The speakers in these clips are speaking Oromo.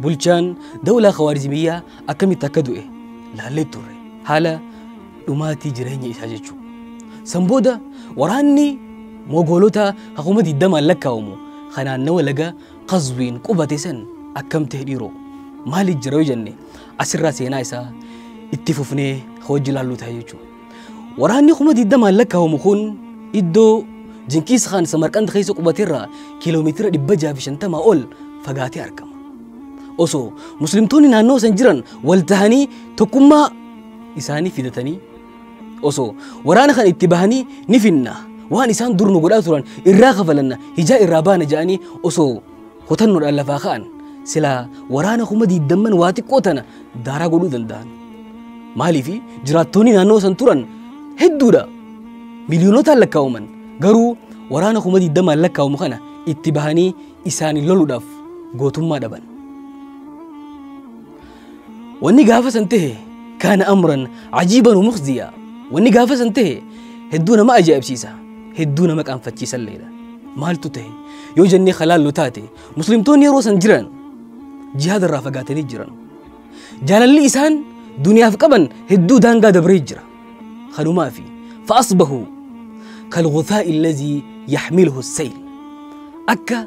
Bulchaan dawlaa Khawaarizmiyyaa akkamitti akka du'e laallee turre. Haala dhumaatii jireenya isaa jechuu. San booda waraanni Mogoolota hakuma digdamaan lakkaa'amu kan naannawa laga Qazwiin qubate san akkam ta'e dhiiroo? Maali jira yoo jenne asirraa seenaa isaa itti fufnee hojii laalluu ta'a jechuudha. Waraanni kuma digdamaan lakkaa'amu kun iddoo Jinkiis Kaan Samarqand keessa qubaterraa kiiloomeetira 650 ol fagaatee argama. Osoo muslimtoonni naannoo san jiran wal tahanii tokkummaa isaanii fidatanii osoo waraana kan itti bahanii ni finna waan isaan dur nu godhaa turan irraa kafalanna hijaa irraa baana jedhanii osoo Kutannoodhaan lafaa ka'an silaa waraana kuma diiddamman waa xiqqoo tana daaraa godhuu danda'an. Maaliif jiraattoonni naannoo san turan hedduudha. Miliyoonotaan lakkaa'aman garuu waraana kuma diiddamaan lakkaa'amu kana itti bahanii isaaniin loluudhaaf gootummaa dhaban. Wanni gaafa san tahe kaana amran ajiiban umukhziya. Wanni gaafa san tahe hedduu nama ajaa'ibsiisa. Hedduu nama qaanfachiisalleedha. Maaltu tahe? Yoo jennee halaallu taate muslimtoonni yeroo san jiran jihaada irraa fagaatanii jiran. Jaalalli isaan duniyaaf qaban hedduu daangaa dabree jira. Kanumaa fi fa'asbahu kalghutaa illazii yaxmiluhu sayl. Akka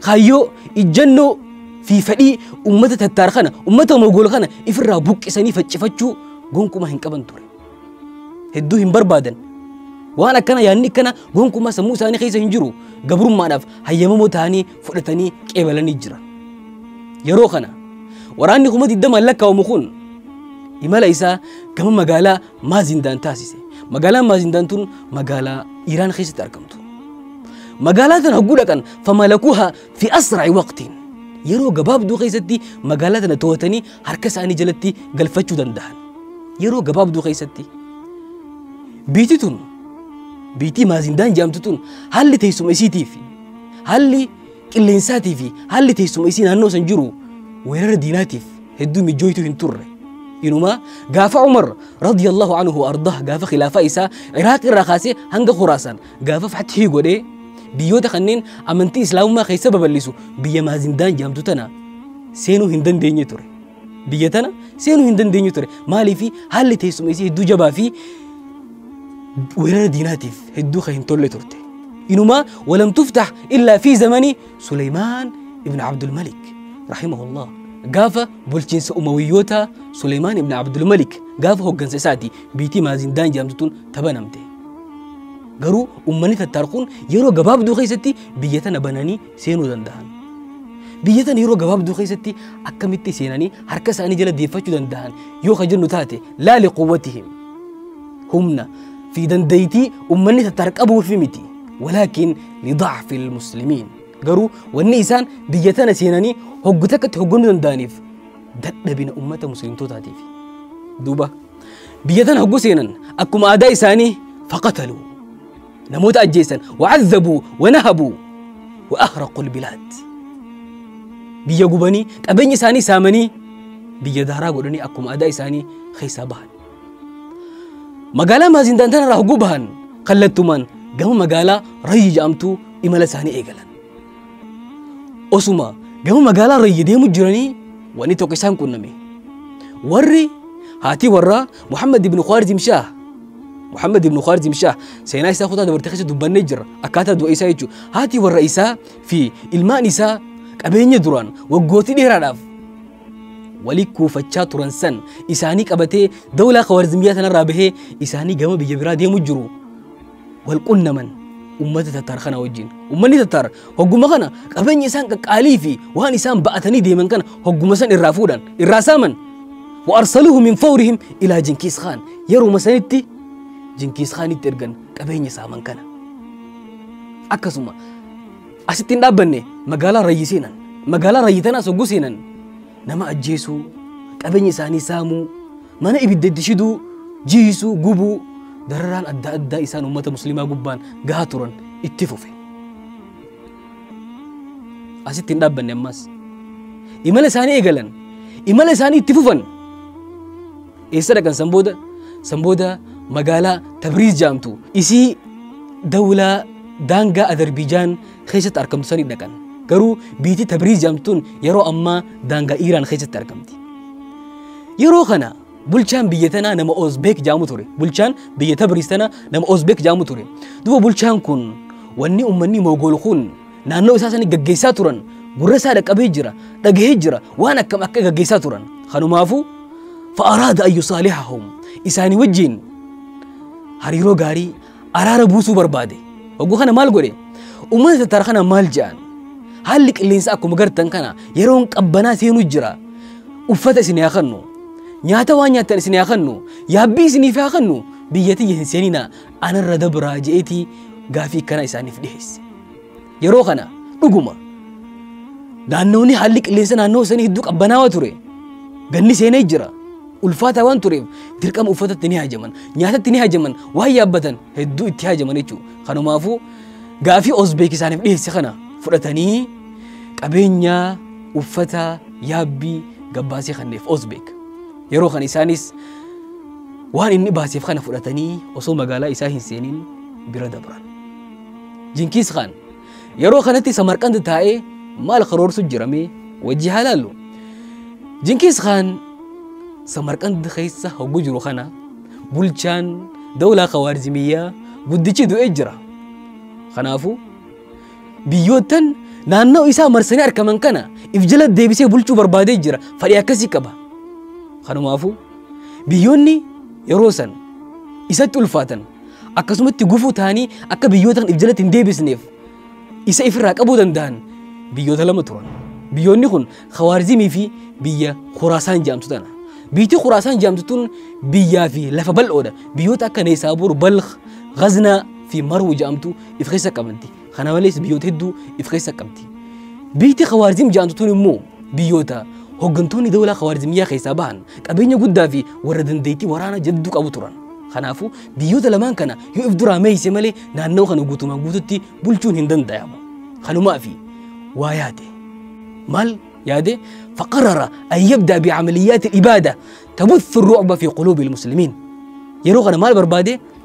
Kaayyoo, ijjannoo fi fedhii ummata Tattaar kana, ummata Mogool kana ifirraa buqqisanii faccifachuu gonkumaa hin qaban ture. Hedduu hin barbaadan. Waan akkana yaadni akkana gonkumaa sammuu isaanii keessa hin jiru. Gabrummaadhaaf hayyamamoo ta'anii fudhatanii qeebalanii jira. Yeroo kana waraanni kuma digdamaan lakkaa'amu kun imala isaa gama magaalaa Maazindaan taasise. Magaalaan Maazindaan tun magaalaa Iraan keessatti argamtu. Magaalaa tana hogguu dhaqan famalakuha fi asra'i waqtiin. Yeroo gabaabduu keessatti magaalaa tana to'atanii harka isaanii jalatti galfachuu danda'an. Yeroo gabaabduu keessatti. Biitii tun biitii Maazindaan jedhamtu tun haalli teessuma isiitii fi haalli qilleensaatii fi haalli teessuma isii naannoo san jiru weerara diinaatiif hedduu mijjooytuu hin turre. Inumaa gaafa Umar radiyallahu anhu ardah gaafa khilaafaa isaa Iraaq irraa kaasee hanga Khuraasaan gaafa fathii godhee biyyoota kanneen amantii Islaamummaa keessa babal'isu biyya Maazindaan jedhamtu tana seenuu hin dandeenye ture. Biyya tana seenuu hin dandeenyu ture. Maaliif haalli teessuma isii hedduu jabaa fi weerara diinaatiif hedduu kan hin tolle turte. Inumaa walam tuftax illaa fi zamanii Suleymaan ibn Abdulmalik rahimahullah gaafa bulchiinsa umawiyyoota Suleymaan ibn Abdulmalik gaafa hoggansa isaati biitii maazindaan jedhamtutuun tabanamte. Garuu ummanni tattaarquun yeroo gabaabduu keessatti biyya tana bananii seenuu danda'an. Biyya tana yeroo gabaabduu keessatti akkamitti seenanii harka isaanii jala deeffachuu danda'an yoo ka jennu taate laali quwwatihim humna fi dandeettii ummanni tattarqabuuf miti. Walaakin lidacfi lmuslimiin garuu wanni isaan biyya tana seenanii hoggu takkatti hogganuu danda'aniif dadhabina ummata muslimtootaatiif. Duuba biyya tana hoggu seenan akkuma aadaa isaanii faqataluu namoota ajjeessan wa'azzabuu wanahabuu wa'ahraqul bilaad biyya gubanii qabeenya isaanii saamanii biyya daaraa godhanii akkuma adaa isaanii keessaa bahan magaalaa maazintaan tanarraa hogguu bahan kallattumaan gama magaalaa rayyi jedhamtuu imala isaanii eegalan osuma gama magaalaa rayyi deemu jiranii wanni tokko isaan qunname warri haatii warraa Muhammad ibn Khwarizm Shah Muhammad ibn Khwarizm Shah seenaa isaa kutaa dabartee keessa dubbannee jirra akkaataa du'a isaa jechuudha. Haati warra isaa fi ilmaan isaa qabeenya duraan waggootii dheeraadhaaf walii kuufachaa turan san isaanii qabatee dawlaa Khwarizmiyaa sanarraa bahee isaanii gama biyya biraa deemu jiru. wal qunnaman ummata tattaar kana wajjin. Ummanni tattaar hogguma kana qabeenya isaan qaqqaalii fi waan isaan ba'atanii deeman kana hogguma san irraa fuudhan irraa saaman. Wa arsaluhu min fawrihim ilaa Jinkiis Khaan yeruma sanitti Jinkiis Khaanitti ergan qabeenya saaman kana. Akkasuma asitti hin dhaabbanne magaalaa Rayyi seenan. Magaalaa Rayyi tanaas hogguu seenan nama ajjeesuu qabeenya isaanii saamuu Mana ibidda itti shiduu, jiisuu, gubuu, dararaan adda addaa isaan ummata muslimaa gubbaan gahaa turan itti fufe. Asitti hin dhaabbanne ammaas. Imala isaanii eegalan. Imala isaanii itti fufan. Eessa dhaqan san booda? San booda magaalaa Tabriiz jaamtu isii dawlaa daangaa Adarbiijaan keessatti argamtu sanii dhaqan. Garuu biitii Tabriiz jedhamtuun yeroo ammaa daangaa Iiraan keessatti argamti. Yeroo kana bulchaan biyya tanaa nama Oozbeek jedhamu ture. Bulchaan biyya Tabriiz tanaa nama Oozbeek jedhamu ture. Duuba bulchaan kun wanni uummanni Moogool kun naannoo isaa sanii gaggeessaa turan gurra isaa dhaqqabee jira, dhagahee jira, waan akkam akka gaggeessaa turan. Kanumaafuu fa'araada ayyu saalihahum isaanii wajjin hariiroo gaarii araara buusuu barbaade. Hogguu kana maal godhe? Uummata tattara kana maal jedhan? Haalli qilleensa akkuma gartan kana yeroon qabbanaa seenuu jira. Uffata isin haa kennu. Nyaata waan nyaattan isin haa kennu. Yaabbii isiniif haa kennu. Biyya tiyya hin seenina. Anarra dabraa je'eetii gaafii akkanaa isaaniif dhiheesse. Yeroo kana dhuguma naannoonni haalli qilleensa naannoo sanii hedduu qabbanaawaa ture. Ganni seenee jira. ulfaataa waan tureef dirqama uffatatti ni haajaman nyaatatti ni haajaman waan yaabbatan hedduu itti haajaman jechuudha kanumaafuu gaafii Uzbeekistaaniif dhiyeesse kana fudhatanii qabeenya uffata yaabbii gabbaasee kanneef Uzbeek yeroo kan isaanis waan inni baaseef kana fudhatanii osoo magaalaa isaa hin seeniin bira dabran. Jinkiis Khaan Yeroo kanatti Samarqand taa'ee maal karoorsu jiramee wajji haa laallu. Jinkiis Khaan Samarqand keessa hogguu jiru kana bulchaan dawlaa Kawaarizimiyyaa guddichi du'ee jira. Kanaafuu biyyoottan naannoo isaa marsanii argaman kana if jala deebisee bulchuu barbaadee jira. Fadhii akkasii qaba. Kanumaafuu biyyoonni yeroo san isatti ulfaatan akkasumatti gufuu ta'anii akka biyyoota kan if jalatti hin deebisneef isa ifirraa qabuu danda'an biyyoota lama turan. Biyyoonni kun Khawaarizimii fi biyya Khuraasaan jedhamtu tana. Biyyi Khuraasaan jedhamtu tun biyyaa fi lafa bal'oodha. Biyyoota akka Neesaabuur, Balkh, Ghaznaa fi Marwu jedhamtu if keessa qabdi. Kana malees biyyoota hedduu if keessa qabdi. Biyyi Khawaarizim jedhamtu tun immoo biyyoota hooggantoonni dawlaa Khawaarizimiyyaa keessaa bahan qabeenya guddaa fi warra dandeettii waraanaa jabduu qabu turan. Kanaafuu biyyoota lamaan kana yoo if duraa meeyse malee naannawa kana guutumaan guututti bulchuun hin dandayamu. Kanumaa fi waa yaade. Maal yaade? Faqarara an yabdaa bi amaliyyaati ibaada tabuthu ru'ba fi quluubi muslimin. Yeroo kana maal barbaade?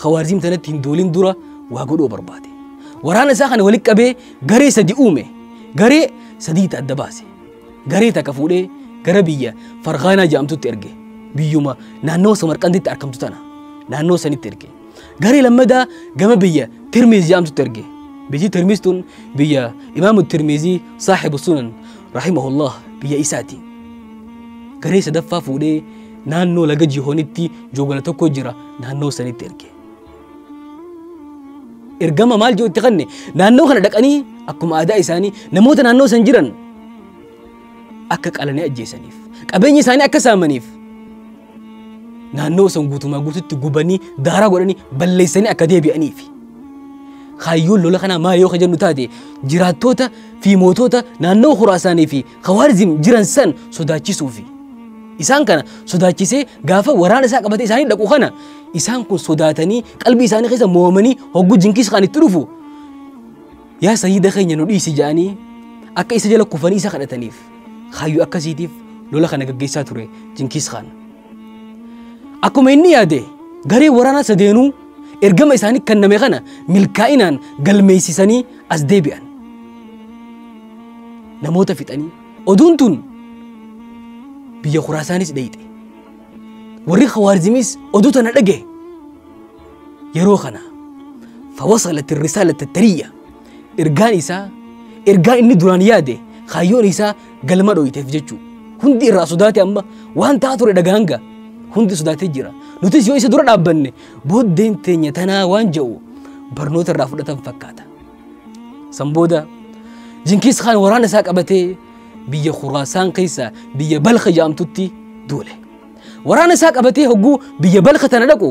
Khawaarziim tanatti hin duulin dura waa godhuu barbaade. Waraana isaa kana walitti qabee garee sadi uume. Garee sadii ta adda baase. Garee takka fuudhee gara biyya Farghaanaa jedhamtutti erge. Biyyuma naannawa Samarqanditti argamtu tana. Naannoo sanitti erge. Garee lammadaa gama biyya Tirmiiz jedhamtutti erge. Biyyi Tirmiiz tun biyya Imaamu Tirmiizii saaxibu sunan rahimahullah biyya isaati. Garee sadaffaa fuudhee Naannoo laga Jihoonitti joogana tokko jira naannoo sanitti erge. Ergama maal jiru itti kanne naannoo kana dhaqanii akkuma aadaa isaanii namoota naannoo san jiran akka qalanii ajjeesaniif qabeenya isaanii akka saamaniif naannoo san guutumaa guututti gubanii daaraa godhanii balleessanii akka deebi'aniif. Kaayyoon lola kanaa maal yoo ka jennu taate jiraattoota fi mootota naannoo Khuraasaanii fi Khawaarizim jiran san sodaachisuufi. Isaan kana sodaachisee gaafa waraana isaa qabatee isaanii dhaqu kana isaan kun sodaatanii qalbii isaanii keessa mo'amanii hogguu jinkiis kan itti dhufu yaa sayyida keenya nu dhiisi jedhanii akka isa jala kufanii isa kadhataniif kaayyoo akkasiitiif lola kana gaggeessaa ture jinkiis kana. Akkuma inni yaade gareen waraanaa sadeenuu ergama isaanii kenname kana milkaa'inaan galmeessisanii as deebi'an. Namoota fixanii oduun tun biyya kuraasaanis dheeyxe. Warri Khawaarizimiis oduu tana dhage. Yeroo kana fawasalat risaalata tariyya Ergaan isaa ergaa inni duraan yaade kaayyoon isaa galma dhoyiteef jechuu. Hundi irraa sodaate amma waan ta'aa ture dhagaanga. Hundi sodaatee jira. Nutis yoo isa dura dhaabbanne booddeen teenya tanaa waan ja'u barnoota irraa fudhatan fakkaata. San booda Jinkiis Kaan waraana isaa qabatee biyya Khuraasaan keessa biyya Balka jedhamtutti duule. Waraana isaa qabatee hogguu biyya Balka tana dhaqu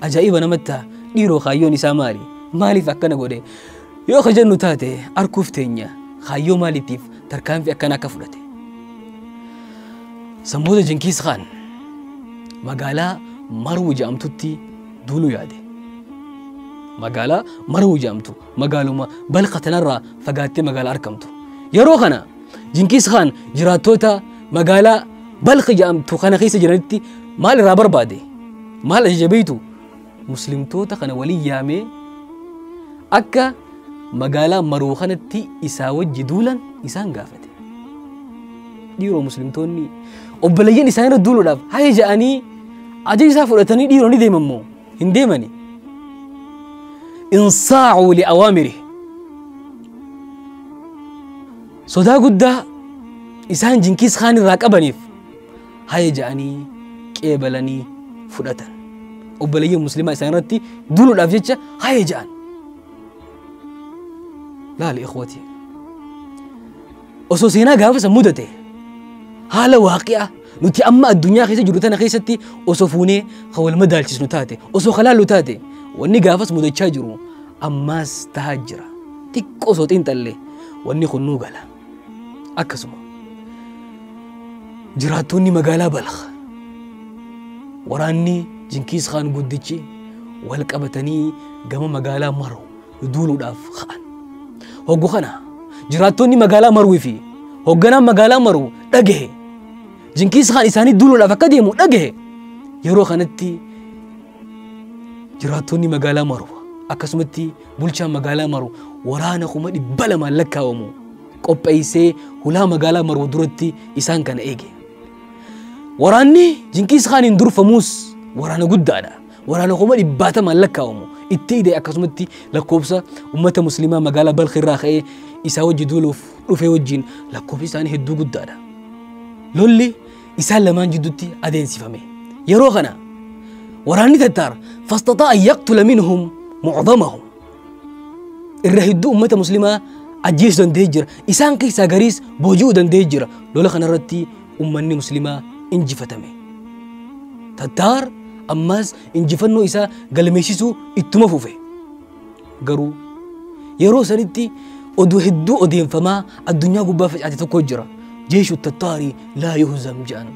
Ajaa'iba namatti ta'a. Dhiiroo kaayyoon isaa maali? Maaliif akkana godhe? Yoo ka jennu taate arguuf teenya kaayyoo maaliitiif tarkaanfii akkana akka fudhate? Sanbooda Jinkiis Kaan magaalaa Marwu jedhamtutti duuluu yaade. Magaalaa Marwu jedhamtu magaaluma Balkh tanarraa fagaattee magaalaa argamtu. Yeroo kana Jinkiis Khaan jiraattoota magaalaa Balkh jedhamtu kana keessa jiranitti maal irraa barbaade? Maal ajaja beektu? Muslimtoota kana waliin yaamee akka magaalaa Maruu kanatti isaa wajji duulan isaan gaafate. Dhiiroo Muslimtoonni obboleeyyan isaanii irra duuluudhaaf haya jedhanii ajaja isaa fudhatanii dhiiroo ni deeman moo? hin deemani insaacuu liawaamiri sodaa guddaa isaan jinkiis kaan irraa qabaniif haya ja'anii qeebalanii fudhatan obboleeyyan muslimaa isaan irratti duluudhaaf jecha haya ja'an laali ikhwatii Osoo seenaa gaafa san mudate haala waaqi'aa nuti amma addunyaa keessa jirru tana keessatti osoo fuunee kan wal madaalchisnu taate osoo kalaallu taate wanni gaafas mudachaa jiru ammaas tahaa jira xiqqoo osoo xiinxalle wanni kun nuu gala akkasuma jiraattoonni magaalaa balakh waraanni jinkiis kaan guddichi wal qabatanii gama magaalaa maruu duuluudhaaf ka'an. Hoggu kana jiraattonni magaalaa Marwii fi hogganaan magaalaa Marwu dhagahe. Jinkiis Kaan isaanii duuluudhaaf akka deemu dhagahe. Yeroo kanatti jiraattonni magaalaa Marwu akkasumatti bulchaan magaalaa Marwu waraana kuma dhibba lamaan lakkaa'amu qopheessee hulaa magaalaa Marwu duratti isaan kana eege. Waraanni Jinkiis Kaaniin durfamuus waraana guddaadha. Waraana kuma dhibbaatamaan lakkaa'amu itti ida'e akkasumatti lakkoofsa uummata musliimaa magaalaa Balkh irraa ka'ee isaa wajji duuluuf dhufee wajjiin lakkoofsi isaanii hedduu guddaadha. Lolli isaan lamaan jidduutti adeemsifame. Yeroo kana waraanni Tattaar fastaxaa an yaqtula minhum mucdamahum irra hedduu ummata muslimaa ajjeesuu danda'ee jira. Isaan keessaa gariis booji'uu danda'ee jira. Lola kanarratti ummanni muslimaa injifatame. Tattaar ammaas injifannoo isaa galmeessisuu ittuma fufe. Garuu yeroo sanitti oduu hedduu odeeffamaa addunyaa gubbaa facaate tokko jira. Jeeshu tattaarii laa yuhzam jedhan.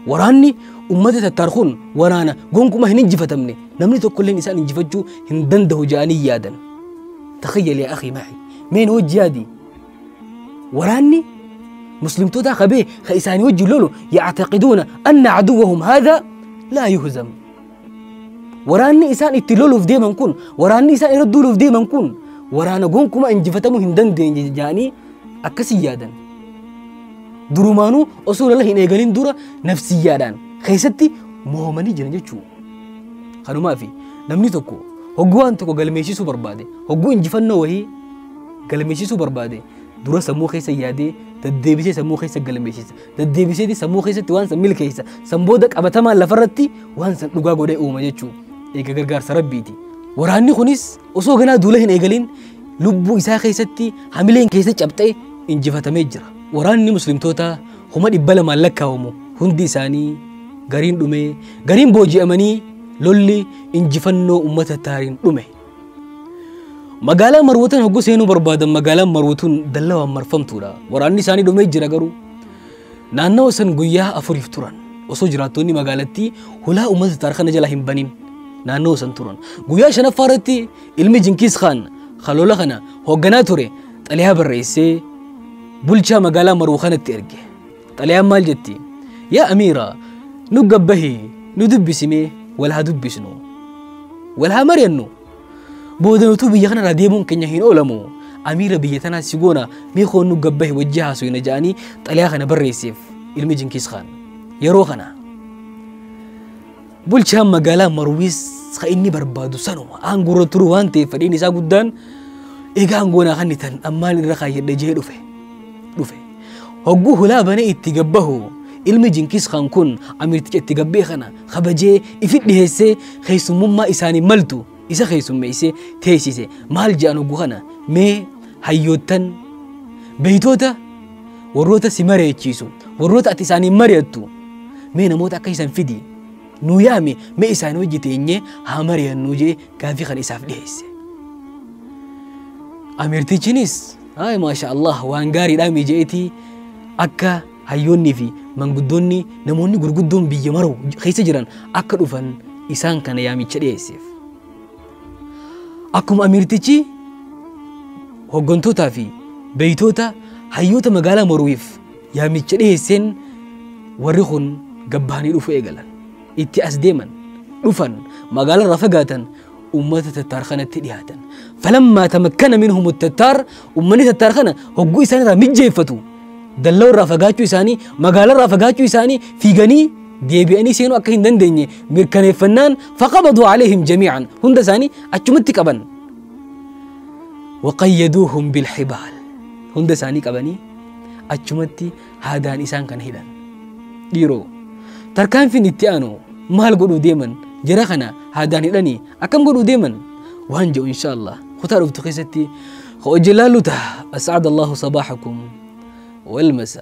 Waraanni ummata tattaar kun waraana gonkuma hin injifatamne Namni tokkolleen isaan injifachuu hin danda'u jedhanii yaadan. Takhayyal yaa akhii ma'i. Meen hojji yaadi. Waraanni muslimtootaa qabee ka isaanii wajjin lolu yactaqiduuna anna caduwahum haadha laa yuhzam. Waraanni isaan itti loluuf deeman kun waraanni isaan irra duuluuf deeman kun waraana gonkumaa injifatamuu hin dandeenye jedhanii akkasii yaadan. Durumaanuu osoo lola hin eegalin dura nafsiyyaadhaan keessatti mo'amanii jiran jechuudha. Kanumaafi namni tokko hogguu waan tokko galmeessisuu barbaade, hogguu injifannoo wahii galmeessisuu barbaade dura sammuu keessa yaadee daddeebisee sammuu keessa galmeessisa. Daddeebiseeti sammuu keessatti waan san milkeessa. San booda qabatamaan lafarratti waan san dhugaa godhee uuma jechuudha. Eega gargaarsa rabbiiti. Waraanni kunis osoo ganaa duula hin eegalin lubbuu isaa keessatti hamileen keessa cabxee injifatamee jira. Waraanni muslimtootaa kuma dhibba lamaan lakkaa'amu hundi isaanii gariin dhumee gariin booji'amanii lolli injifannoo uummata taariin dhume. Magaalaa Marwootan hogguu seenuu barbaadan magaalaan Marwootuun dallawaan marfamtuudha. Waraanni isaanii dhumee jira garuu naannawa san guyyaa afuriif turan. Osoo jiraattonni magaalattii hulaa uummata taar kana jala hin banin naannawa san turan. Guyyaa shanaffaa irratti ilmi Jinkiis Khaan kan lola kana hoogganaa ture xaliyaa barreessee bulchaa magaalaa maruu kanatti erge xalayaan maal jetti yaa amiira nu gabbahi nu dubbisimee wal haa dubbisnu wal haa mari'annu booda nutuu biyya kanarraa deemuun keenya hin oolamu amiira biyya tanaa si goona mee koon nu gabbahi wajji haasuyna ja'anii xalayaa kana barreesseef ilmi jinkiis kaan yeroo kana Bulchaan magaalaa Marwiis kan inni barbaadu sanuma aangoorra turu waan ta'eef fedhiin isaa guddaan egaa aangoonaa kan itan ammaan irra kaayyadhe jee dhufe. dhufe. Hogguu hulaa banee itti gabbahu ilmi Jinkiis Kaan kun amiirticha itti gabbee kana kabajee ifi dhiheessee keessummummaa isaanii maltu isa keessummeessee teessise maal jedhan oggu kana mee hayyoottan beeytoota warroota si mareechiisu warroota ati isaaniin mari'attu mee namoota akka isan fidi nuu yaame mee isaan hojii teenye haa mari'annuu jee gaafii kana isaaf dhiheesse. Amirtichinis maasha Allah waan gaariidhaa mijeetii akka Hayyoonnii fi manguddoonni namoonni gurguddoon biyya maruu keessa jiran akka dhufan isaan kana yaamicha dhiyeesseef. Akkuma amiirtichi hoggantootaa fi beeytoota hayyoota magaalaa maruuif yaamicha dhiyeesseen warri kun gabbahanii dhufuu eegalan. Itti as deeman, dhufan, magaalarraa fagaatan ummata tattaar kanatti dhihaatan falammaa tamakkana minhum tattaar ummanni tattaar kana hogguu isaan irraa mijjeeffatu dalloo irraa fagaachuu isaanii magaalaa irraa fagaachuu isaanii fiiganii deebi'anii seenuu akka hin dandeenye mirkaneeffannaan faqabaduu aleehim jamiican hunda isaanii achumatti qaban waqayyaduuhum bilxibaal hunda isaanii qabanii achumatti Haadaan isaan kana hidhan. Dhiiroo. Tarkaanfiin itti aanu maal godhuu deeman jara kana haadaan hidhanii akkam godhuu deeman waan jedhu insha Allah kutaa dhuftu keessatti hojii laallu ta'a. As'aad Allahu sabaahakum wal masa.